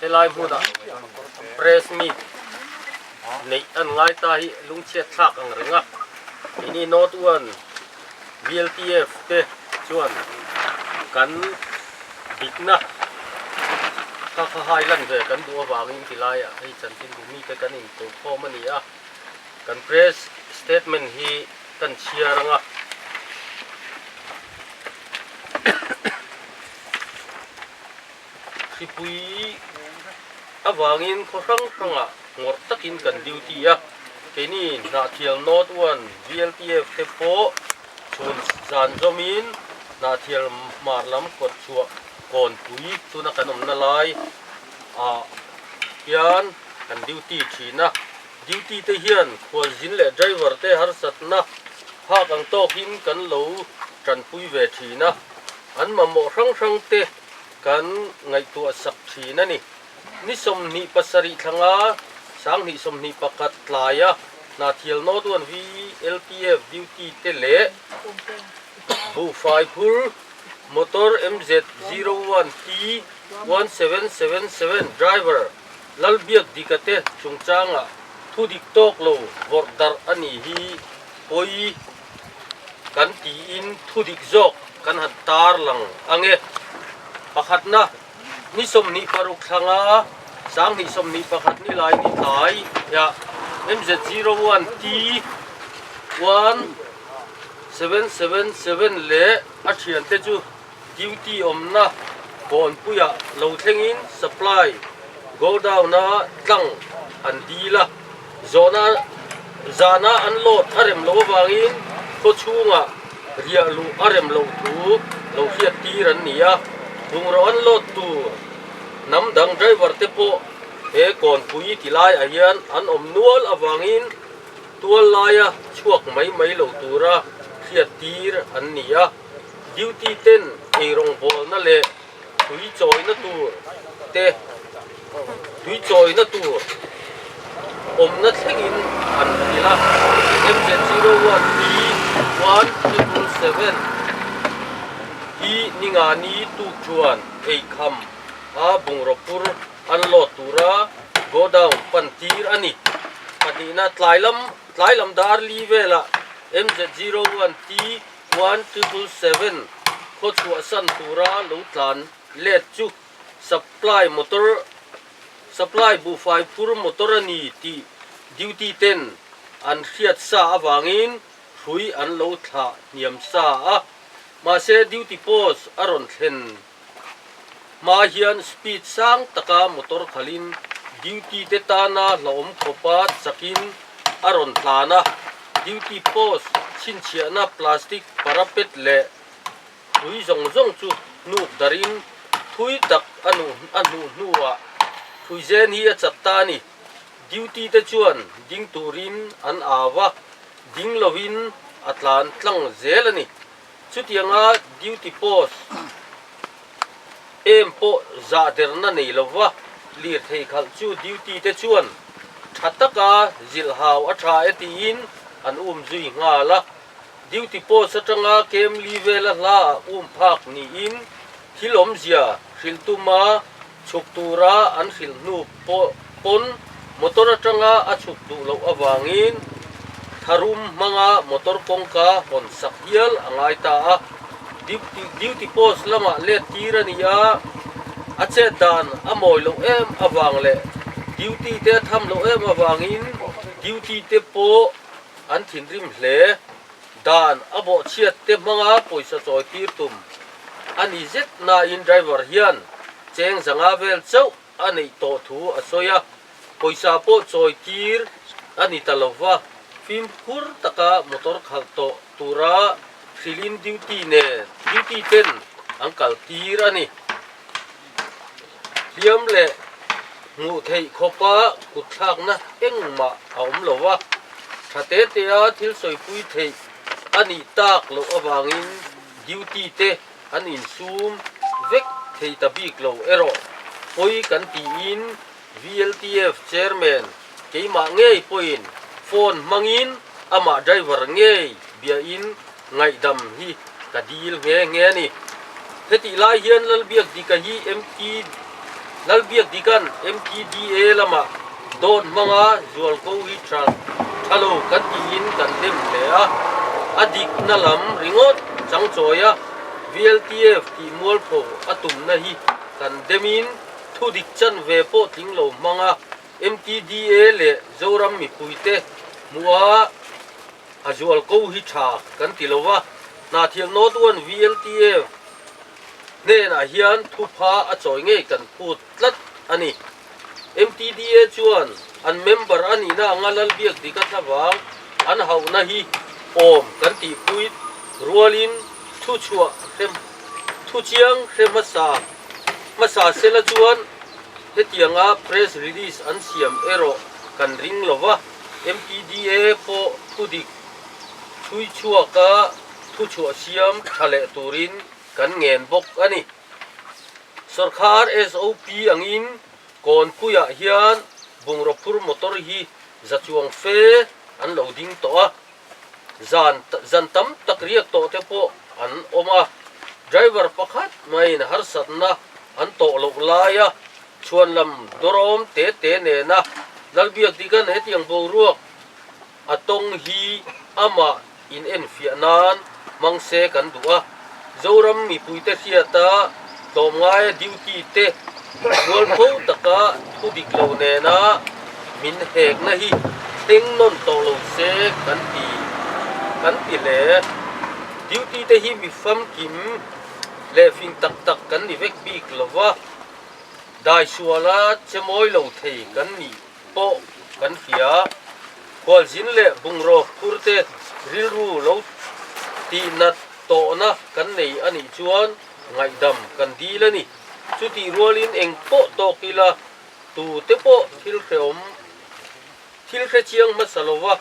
Helai hmuna press meet neih an ngai ta hi lungchhiat thlak ang reng a, keini note uan BLTF te chuan kan dikna kha kha hai lan ve kan duh avangin ti laia hei chanchinbu mite kan in tluk khawm a ni a, kan press statement hi kan chhiar ang a. Hripui avangin khaw hrang hrangah ngawrh takin kan duty a, keini Hnahthial North uan VLTF te pawh chhun zan zawmin Hnahthial hmar lam kawt chhuah Kawnpui tuna kan awmna lai ah hian kan duty thin a. Duty te hian khualzin leh driver te harsatna phak ang tawkin kan lo tanpui ve thin a. An mamawh hrang hrang te kan ngaihtuah sak thin a ni. Ni sawmhnih pasarih thlanga sanghnih sawmhnih pakhat tlaia Hnathial Noduan Vi LPF duty te leh buhfai phur motor MZ zero one T one seven seven seven driver Lalbiak Dika te chungchangah thudik tawk lo vawrh darh a nih hi pawi kan tiin thudik zawk kan han tar lang ange. Pakhatna, ni sawmhnih paruk thlanga sanghnih sawmhnih pakhat ni lai ni tlai hia MZ01 T 1777 leh a thiante chu, Duty awmna bawnpuiah lo thlengin supply godown a tlang an dil a, zawhna zana an load a rem loh avangin khawchhunga riah luh a rem loh thu lo hriat tir an ni a. Bungraw an load tur hnam dang driver te pawh he kawnpui ti laiah hian an awm nual avangin tual laia chhuak mai mai lo tura hriat tir an ni a. Duty ten eirawngvawlna leh tui chawina tur te tui chawina tur awmna thlengin an hrilh a. MZ zero one T one triple seven hi Ningani Tuchuan eikham a bungraw pur an load tura go down pan tir a ni. Pahnihna tlai lam tlai lam Darli velah MZ zero one T One triple seven khawchhuahsan tura lo tlan let chu supply motor supply buhfai phur motor a ni tih duty ten an hriat sa avangin hrui an lo thlah hniam sa a. Mahse duty post a rawn thlen Hma hian speed sang taka motor khalhin duty te tana hlauhawm khawpa chakin a rawn tlan a. Duty post chhinchhiahna plastic parapet leh hlui zawng zawng chu hnuk darin thui tak a hnuh hnuah hlui zen hi a chak ta a ni. Duty te chuan ding turin an au a, ding loin a tlan tlang zel a ni. Chutianga duty post em pawh zahderna nei lo va, lirthei khalh chu duty te chuan tha taka zilh hau a tha e tiin an um zui nghal a. Duty post atanga kemli vela hla ah um phak niin thil awmzia hrilh tuma Chhuk tura an hrilh hnu pawh pawn motor atanga a chhuk duh loh avangin tharum hmanga motor kawngka hawn sak hial a ngai ta a. Duty duty post lamah let tir a ni a, a chet dan a mawi loh em avang leh duty te a tham loh em avangin duty te pawh an thinrim hle. Dan a bawhchhiat te hmanga pawisa chawi tir tum a ni zet nain driver hian cheng zanga vel chauh a neih tawh thu a sawi a, pawisa pawh chawi tir a ni ta lo va, fimkhur taka motor khalh tawh tura hrilhin duty nen duty ten an kal tir a ni. hliam leh hmuh theih khawpa kutthlakna engmah a awm lo va, tha te tea thil sawipui theih a nih tak loh avangin duty te an insum vek thei ta bik lo erawh pawi kan tiin, VLTF Chairman keimah ngei pawhin phone hmangin amah driver ngei biain ngaihdam hi ka dil nghe nghe a ni. Hetih lai hian Lalbiak Dika hi MT Lalbiak Dika'n MTDA lamah dawn hmanga Zualko hi tha tha lo kan tiin kan dem hle a, a dikna lam ringawt chang chawi a, VLTF tihmualpho a tumna hi kan demin, Thu dik chanve pawh tling lo hmang a, MTDA leh Zoram mipuite hmuh a a zual ko hi tha kan ti lo va, Hnahthiam North One VLTF hnenah hian thu pha a chawi ngei kan phut tlat a ni. MTDA chuan an member a nihna anga lal biak dik a thla vang an hauhna hi awm kan tihpui rualin thu chhuah hre thu chiang hre hmasa Hmasa sela chuan hetianga press release an siam erawh kan ring lo va, MPDA pawh thudik thui chhuaka thu chhuahsiam tha leh turin kan ngen bawk a ni. Sawrkhar SOP angin Kawnpuiah hian bungraw phur motor hi za chuang fe an lo ding tawh a. zan zan tam tak riak tawh te pawh an awm a, driver pakhat maiin harsatna an tawh loh laia chhuan lam dawrawm te te nena Lalbiak Digan hetiang boruak a tawng hi amah in enfiah nan Hmang se kan duh a, Zoram mipuite hriata tlawmngaia duty te bual fo taka thu dik lo nena min hekna hi teng nawn tawh lo se kan ti kan ti hle. Duty te hi mi famkim leh fing tak tak kan ni vek bik lo va, daisuala chemawi lo thei kan ni. pawh kan fia a, hualzin leh bungraw phurte rilru lo tihna tawhna kan nei a nih chuan ngaihdam kan dil a ni. Chutih rualin eng pawh tawk ila tute pawh thil hrehawm thil hre chiang hmasa lova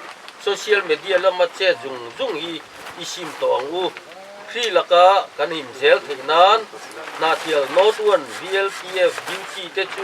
social media lama chet zung zung hi i sim tawh ang u. Hri laka kan inzel theih nan, Hnahthial North One, VLTF, Duty te chu,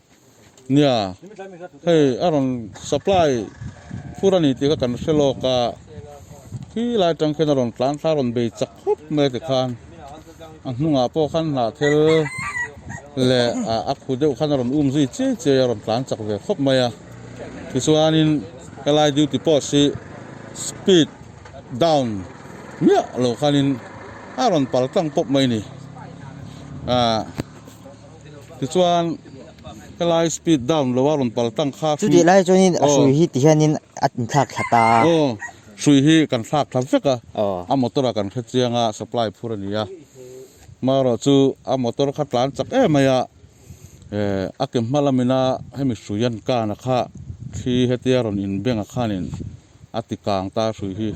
Nia, hei a rawn supply fur a ni tih kha kan hre lawk a, khi lai atang khian a rawn tlantlang a rawn bei chak khawp mai a ti khan a hnungah pawh khan hnahthel leh a khu deuh khan a rawn um zui chiai chiai a, a rawn tlan chak ve khawp mai a, tichuanin helai duty post hi speed down miah lo khanin a rawn pal tlang pawp mai a ni. Tichuan ka lai speed down lo a, rawn pal tang kha. Chu tih lai chuanin a hrui hi ti hianin a inthlak thla ta a. Aw, hrui hi kan thlak thla vek a. A motor a kan hre chiang a, supply phur a ni a. Marawh chu a motor kha tlan chak em mai a, eh, a ke hma lamina hemi hrui an kana kha thli hetia rawn inbeng a khanin. a ti kang ta hrui hi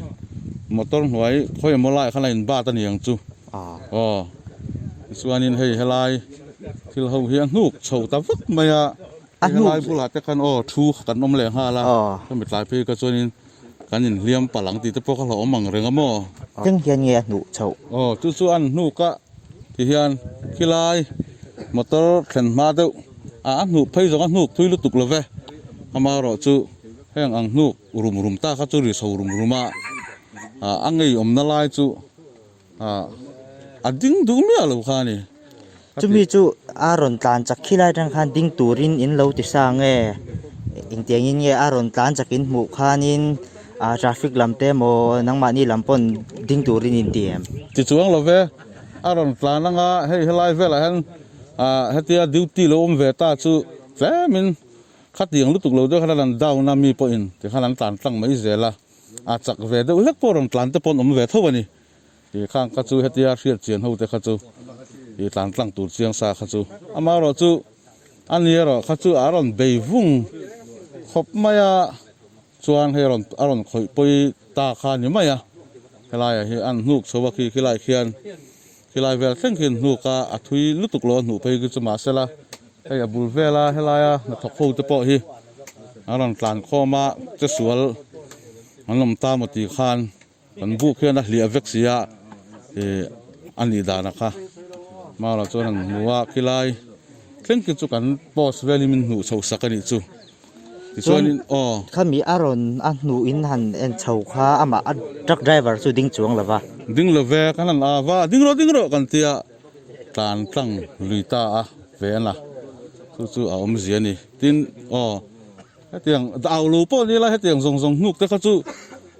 motor hnuai khawi emaw lai khan a in bat ani ang chu aw tichuanin hei helai thil ho hi a hnuk chho ta vak mai a hei helai bulah te khan aw thu kan awm leh nghal a hemi tlai phei ka chuanin kan in hliam palh ang tih te pawh ka hlauh awm ang reng a maw keng hian nge a hnuh chho aw chu chu an hnuk a ti hian khilai motor thlen hma deuh ah a hnuh phei zawng a hnuk phui lutuk lo ve amaherawhchu Heng ang hnuk rum rum tak a chu riso rum rum a, a ngei awmna lai chu a ding duh miah lo kha a ni. Chumi chu a rawn tlan chak khi lai atang khan ding turin in lo ti sa ang e, engtiang in nge a rawn tlan chak in hmuh khanin traffic lam te emaw nangmahni lam pawn ding turin in ti em? Ti chuang lo ve, a rawn tlan anga hei helai velah hian hetia duty lo awm ve ta chu tlemin, Khatiang lutuk lo deuh hian a lan down a, mi pawhin tikhan an tlan tlang mai zel a, a chak ve deuh hlek pawh rawn tlan te pawh an awm ve tho a ni. Ih khang kha chu hetia hriatchian ho te kha chu ih tlan tlang tur chiang sa kha chu ama erawh chu a ni erawh kha chu a rawn bei vung khawp mai a chuan hei rawn a rawn khawih pawi ta kha a ni mai a, helaiah hi an hnuk chho a khi khilaiah khian Helai vel thleng hian hnuk a a thui lutuk lo a hnuh phei hi chu mah se la hei a bul vel a helai a hnathawk ho te pawh hi an rawn tlan khawm a che sual an awm ta maw tih khan kan buh khian a hliah vek si a ih a nih dan a kha mau lo chuan an hmu a khilai thleng khi chu kan post vel hi min hnuh chhoh sak a nih chu. Tichuanin aw. Khami a rawn a hnuhin han en chho kha amah a truck driver chu ding chuang lo va. Ding lo ve ka han la va, ding rawh ding rawh kan tia tlan tlang lui ta a ve a na. Chu chu a awm zia ni. Tin aw hetiang au lo pawh ni la hetiang zawng zawng hnuk te kha chu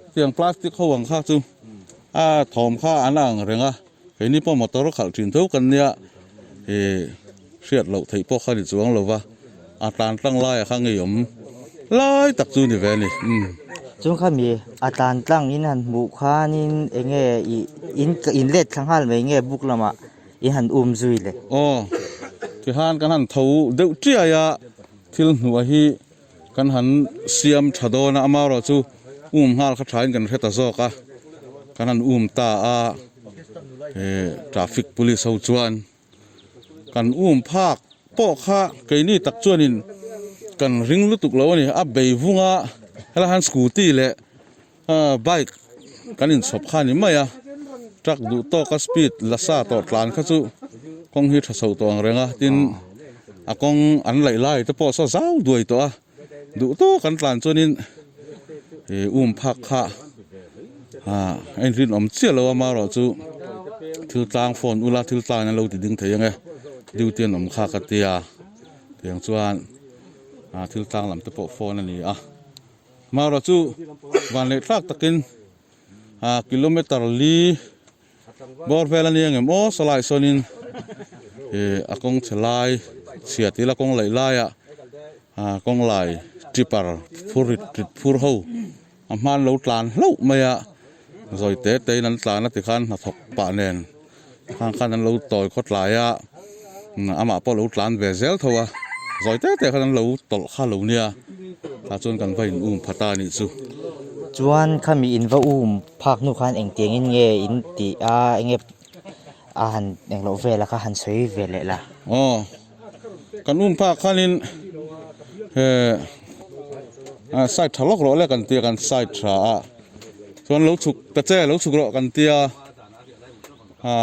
hetiang plastic ho ang kha chu a thawm kha an a ang reng a. Keini pawh motor khalh thin tho kan nia i hriat loh theih pawh kha ni chuang lo va, a tlan tlang laia kha ngei awm lai tak chu ni ve a ni. Umm. Chung kha mi a tlan tlang in han hmuh khanin eng nge i in in let thla nghal mai nge buk lamah i han um zui le? Aw, tihan kan han tho deuh tiai a, thil hnuah hi Kan han siam tha dawn a, amaherawh chu um nghal kha thain kan hre ta zawk a, kan han um ta a, he traffic police ho chuan kan um phak pawh kha keini tak chuanin kan ring lutuk lo a ni, a bei vunga hela han scooty leh. Bike kan inchhawp kha ni mai a, truck duh tawka speed la sa tawh tlan kha chu kawng hi tha chhoh tawh ang reng a, tin a kawng an laih lai te pawh saw zau duai tawh a, duh tawk an tlan chuanin um phak kha a inrinawm chiah lo a, marawh chu thil tlang phone ula thil tlangin an lo ti ding thei ang e, duty an awm kha ka tia, tiang chuan thil tlang lam te pawh phone a ni a. Mara chu van leh thlak takin aa kilometer li bawr vel a nia nge maw Salai sawnin a kawng chhe lai chhia ti ila kawng laih laia aa kawng lai tipper phur rit rit phur ho a hma an lo tlan hlauh mai a zawite tein an tlan a tikhan hnathawk pah nen Khang khan an lo tawi khawtlai a, amah pawh a lo tlan ve zel tho a, zawi te te khan an lo tawlh kha lo nia, tah chuan kan va in um phat a nih chu. Chuan khami in va um phak hnu khan engtiang in nge in tih a, enge a han engloh vel a kha han sawi ve leh la. Aw. Kan um phak khanin he a side tha lawk rawh le kan tia kan side tha a chuan lo chhuk ta che lo chhuk rawh kan tia ha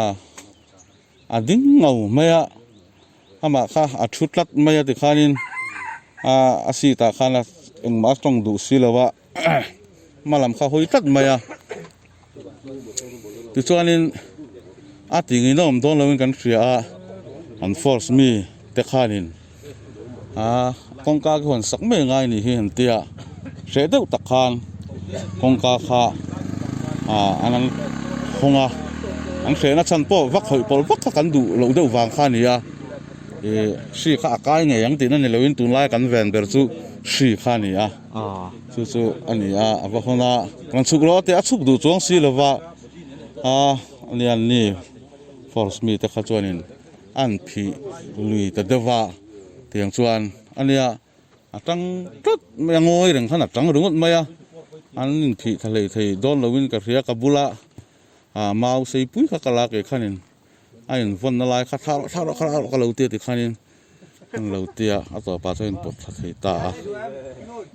a ding ngau mai a ama kha a thu tlat mai a tikhanin a a seat ah khan engmah a tawng duh si lo a. hma lam kha hawi tlat mai a tichuanin a tingin a awm dawn lo in kan hria a an force mi te khanin aaa kawngka ka hawn sak mai ngai ni hi an ti a hreh deuh tak khan kawngka kha aaa an han hawng a an hreh na chhan pawh va khawih pawlh vak kha kan duh loh deuh vang kha ni a ihh hri kha a kai ngei ang tihna ni lo in tunlai kan ven ber chu hri kha ni a. Aw. Chu chu a ni a, a va hawn a, kan chhuk lo a tia a chhuk duh chuang si lova a lian ni force mite kha chuanin an phih lui ta deuh va, tiang chuan a nia a tang tlat mai a, ngawi reng khan a tang ringawt mai a, an inphih tha hleih thei dawn lovin ka hria ka bula mau seipui kha ka la keh khanin. a in vawn na lai kha thla rawh thla rawh thla rawh ka lo ti a ti khan in an lo ti a a tawpa chuan a in pawt thla thei ta a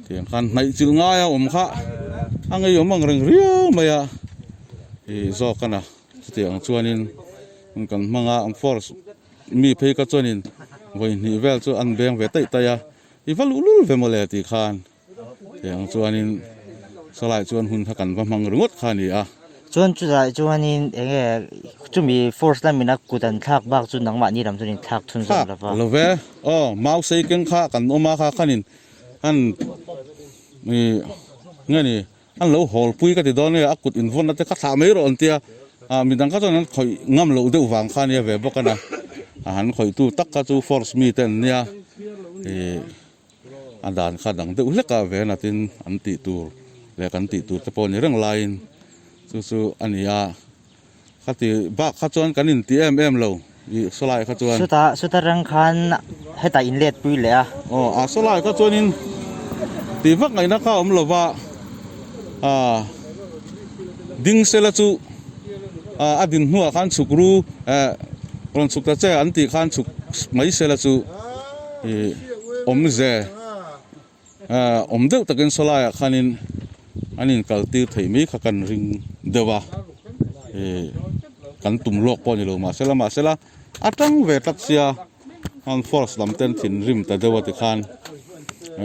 tiang khan hnaih chilh ngai a awm kha a ngei awm ang reng riau mai a i zawk a na chuti ang chuan in kan hmang a force mi phei ka chuan in vawihnih vel chu an beng ve taih taih a i va luh lul ve mawle ti khan. Tiang chuanin Salai chuan hun kha kan va hmang ringawt kha a ni a. Chuan chulaiah chuanin eng nge chumi force lam ina kut an thlak bak chu nangmah ni lam chuan in thlak chhun zawk lo va. Thlak lo ve. Aw mau sei keng kha a kan awm a kha khan in an i nge ni an lo hawl pui ka ti dawn e, a kut in vawn ate ka thlah mai rawh an tia a mi dang kha chuan an khawih ngam loh deuh vang kha a nia ve bawk a na. A han khawihtu tak kha chu force mite an nia i. a dan kha dang deuh hlek a vei a natin an tih tur leh kan tih tur te pawh ni reng laiin chu chu a ni a, khati bak kha chuan kan in ti em em lo i Sawlai kha chuan. Suta suta reng khan heta in let pui leh a. Aw a Sawlai kha chuan in tih vak ngai na kha awm lo va a Dingsela chu a a din hnuah khan chhuk ru eh rawn chhuk ta che an tih khan chhuk mai sela chu. ih awm ze ah awm deuh takin saw laiah khanin an inkal tir thei mai kha kan ring deuh a ih kan tum lawk pawh a ni lo mahse lam mahse la a tang ve tlat sia han force lam ten thinrim ta deuh a ti khan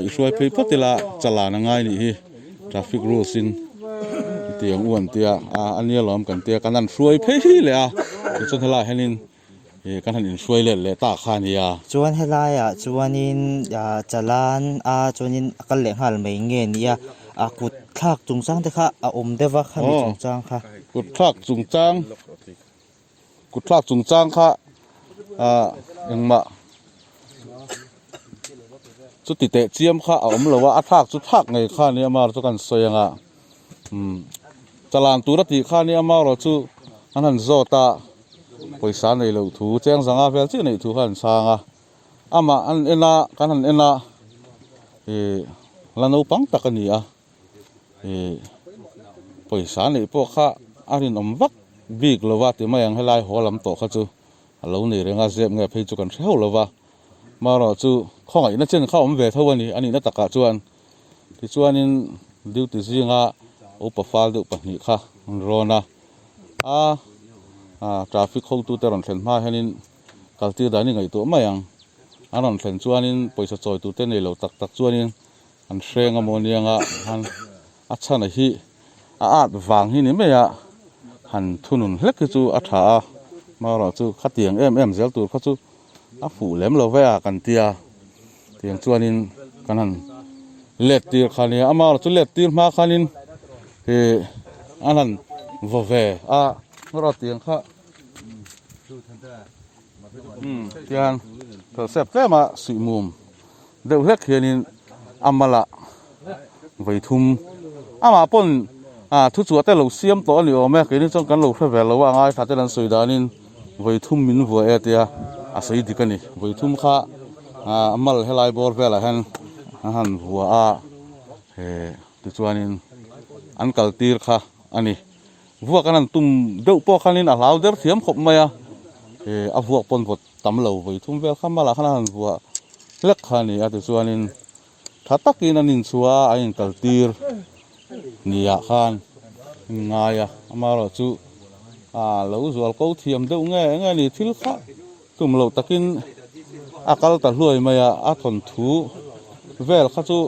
i hruai phei phawt ila chalan a ngai nih hi traffic rules in tiang u an tia a nia lo kan tia kan han hruai phei leh a tichuan helaiah hianin-- Ih ka han in hruai let leh ta kha nia. Chuan helai ah chuanin Chalan a chuanin a kal leh nghal mai nge nia ah kut thlak chung chang te kha a awm deuh a khami chung chang kha. Kut thlak chung chang kut thlak chung chang kha ah engmah chuti teh chiam kha a awm lo a a thlak chu thlak ngei kha nia mar chu kan sawi ang a. Chalan tura tih khan i ama erawh chu an han zawt a, pawisa nei loh thu, cheng zanga fel chiah neih thu kha an sang a. Amah an en a, kan han en a, ih, la naupang tak a ni a, ih, pawisa neih pawh kha a rinawm vak bik lo va, timai ang helai haw lam tawh kha chu a lo nei reng a, zep nge phei chu kan hre hauh lo va, amaherawhchu khawngaihna chen kha awm ve tho a ni, a nihna takah chuan. Tichuanin duty zinga upa fal deuh pahnih kha an rawn a, a traffic hawngtute rawn thlen hmaah hianin kal tir dan i ngaihtuah mai ang. An rawn thlen chuanin pawisa chawitute nei lo tak tak chuanin an hreng a maw nia nga han a chhana hi a at vang hi ni mai a, han thunun hlek hi chu a tha a, hmaerawh chu khatiang em em zel tur kha chu. a fuh lem lo ve a kan ti a, tiang chuanin kan han let tir kha nia, amarawh chu let tir hma khanin ih an han vaw ve a, amarawh tiang kha umm tiang felh sep tlem a suihmum. Deuh hlek hianin a mala vei thum. Amah pawn thu chu ate lo siam tawh a ni awm e, keini chuan kan lo hre ve lo a, a ngaithla ten an sawi danin vei thum min vuai e tia a sawi dik a ni. Vei thum kha a mal helai bawr velah hian a han vuah a, he tichuanin an kal tir kha a ni. Vuak an han tum deuh pawh khanin a hlau der thiam khawp mai a, he a vuak pawn vawt tam lo vawi thum vel kha mala khan a han vuah hlek kha a ni a tichuanin tha takin an inchhuah a an inkal tir ni ah khan in ngai a amarawh chu aa lo zual ko thiam deuh nge nge ni thil kha tum lo takin a kal ta hluai mai a a thawn thu vel kha chu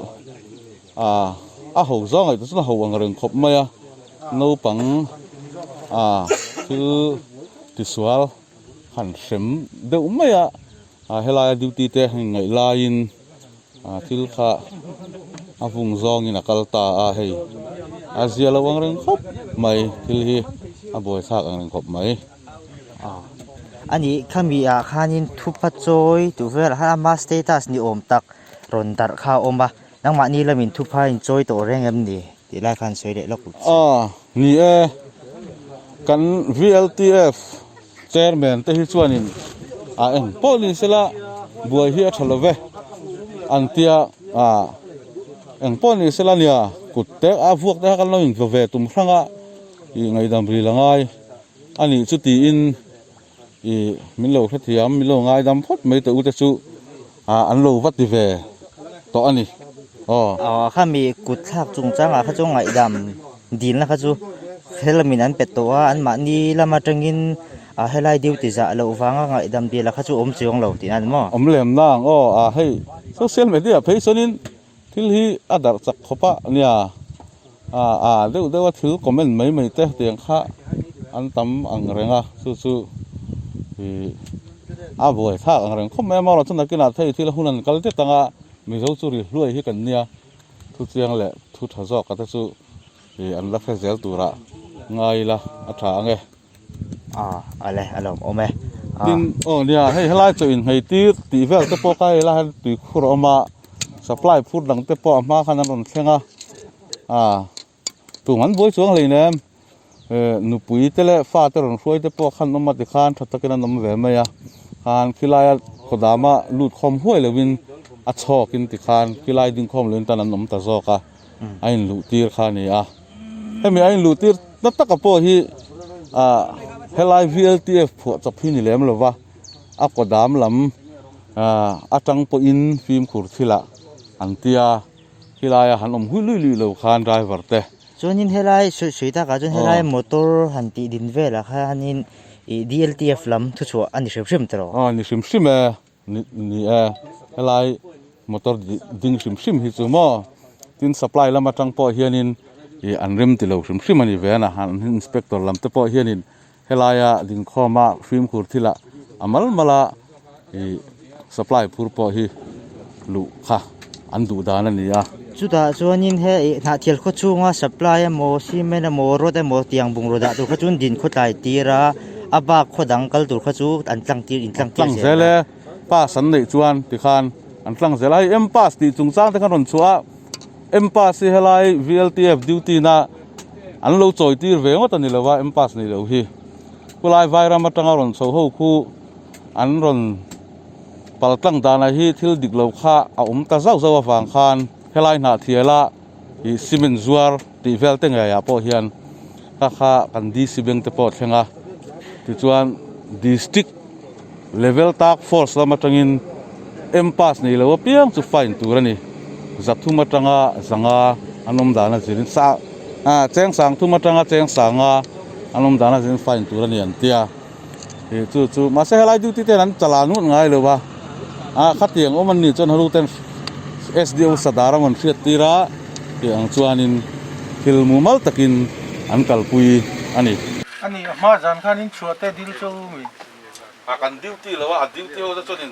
aa a ho zawngaih te chuan a ho ang reng khawp mai a naupang aa thil tisual. Han hrem deuh mai a, helaia duty te han inneih laiin thil kha a vung zawngin a kal ta a, hei a zia lo ang reng khawp mai, thil hi a buaithlak ang reng khawp mai. A nih kha mi ah khanin thupa chawi duh vel a, ama status ni awm tak rawn darh kha a awm a, nangmahni lamin thupa inchawi tawh reng em ni? Tih lai khan sawi leh lawk lut si. Aw ni e, kan VLTF chairman te hi chuanin a en pawh ni sela buai hi a tha love an tia a eng pawh ni sela nia kut te a vuak te kha kan lo intlawve tum hrang a i ngaidam ril angai a nih chu tiin. Ih, min lo hrethiam, min lo ngaidam phawt mai teh ute chu an lo va ti ve tawh a ni aw. Khami kutthlak chungchangah kha chu ngaihdam dilna kha chu khelmin an pe tawh a, anmahni lam atangin helai duty zah loh vanga ngaihdam dil kha chu awm chiang lo tih a ni maw? Awm lem na ang aw, hei social media phei chuanin Thil hi a darh chak khawp a nia. Aa a deuh deuha thil comment mai mai te tiang kha an tam ang reng a, chu chu ih a buai thlak ang reng khawp mai a maw chu nakinah thei thil hun an kal tlat ang a, Mizo chu ri hluai hi kan nia, thu chiang leh thu tha zawk a te chu ih an la hre zel turah ngai ila a tha ang e. tin aw nia hei helai chu inhmei tir tih vel te pawh kha hei lai hian tui khur a awm a supply phur dang te pawh a hma khan an rawn thleng a ah tun han buai chuang hlei nen eh nupui te leh fa te rawn hruai te pawh khan an awm a ti khan tha takin an awm ve mai a khan khilai a khaw dama lut khawm huai lovin a chhawkin ti khan khilai ding khawm lovin tan an awm ta zawk a. a inluhtir kha a ni a, hemi a inluhtir ta taka pawh hi helai VLTF phuahchawp hi ni lem lova, a kaw dam lam atang pawhin fimkhur thilah an tia, khilaiah han awm hui luih luih lo khan driver te. Chuanin helai sawi sawi takah chuan helai motor han tih din velah khanin DLTF lam thuchhuah a ni hrim hrim tawh. Aw a ni hrim hrim e. Ni e, helai motor ding hrim hrim hi chu maw? Tin supply lam atang pawh hianin ih an rem tilo hrim hrim a ni ve a na. Han inspector lam te pawh hianin helaia dingkhawma fimkhur thila a mal mal a ih supply phur pawh hi luh kha. an duh dan a ni a. Chutah chuanin hei hnahthial khaw chhunga supply emaw cement emaw rod emaw tiang bungraw dah tur kha chuan din khaw tlai tir a, a bak khaw dang kal tur kha chu an tlang tir in tlang tir zel a. An tlang zel e, pass an neih chuan tikhan an tlang zel a. Hei M pass tih chung chang te khan rawn chhuah a, M pass hi helai VLTF duty na an lo chawi tir ve ngawt a ni lo va, M pass neih loh hi khulai Vairam atanga rawn chhoh ho khu an rawn. Paltlang danah hi thil dik lo kha a awm ta zauh zauh avang khan helai hnahthial a ih cement zuar tih vel te ngeiah pawh hian ka kha kan DC Bank te pawh thleng a, tichuan District level tak force lam atangin M pass nei lo apiang chu fine tur a ni. Zathum atanga zanga an awm dan azin sa ah Chengsang thum atanga Chengsanga an awm dan azin fine tur a ni an tia. He chu chu, mahse helai duty ten an chala nuat ngai lo va, ah khatiang awm an nih chuan halu ten SDO sadar a rawn hriat tir a, tih ang chuanin thil mumal takin an kalpui a ni. A nih a hma zan khan in chhuah teh dil che u mi. A kan duty lo a, a duty ho te chuan in.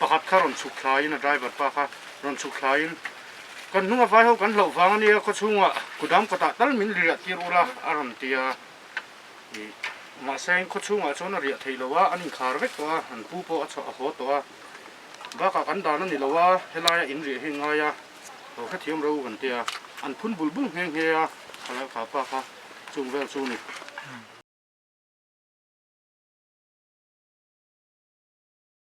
Pakhat kha rawn chhuk thlaiin a driver pa kha rawn chhuk thlaiin, Kan hnunga vai ho kan hloh vang a nia, khawchhunga kudam kawtah tal min riah tir u la a rawn ti a. Mahse in khawchhungah chuan a riah theih lo a, an inkhar vek tawh a, an pu pawh a chhuah a haw tawh a. Bakah kan dan a ni lo a, helaia in riah hi an ngai a, ho hrethiam ro kan ti a, an phun bul bul nghe nghe a, a lalkha pa kha chung vel chu ni.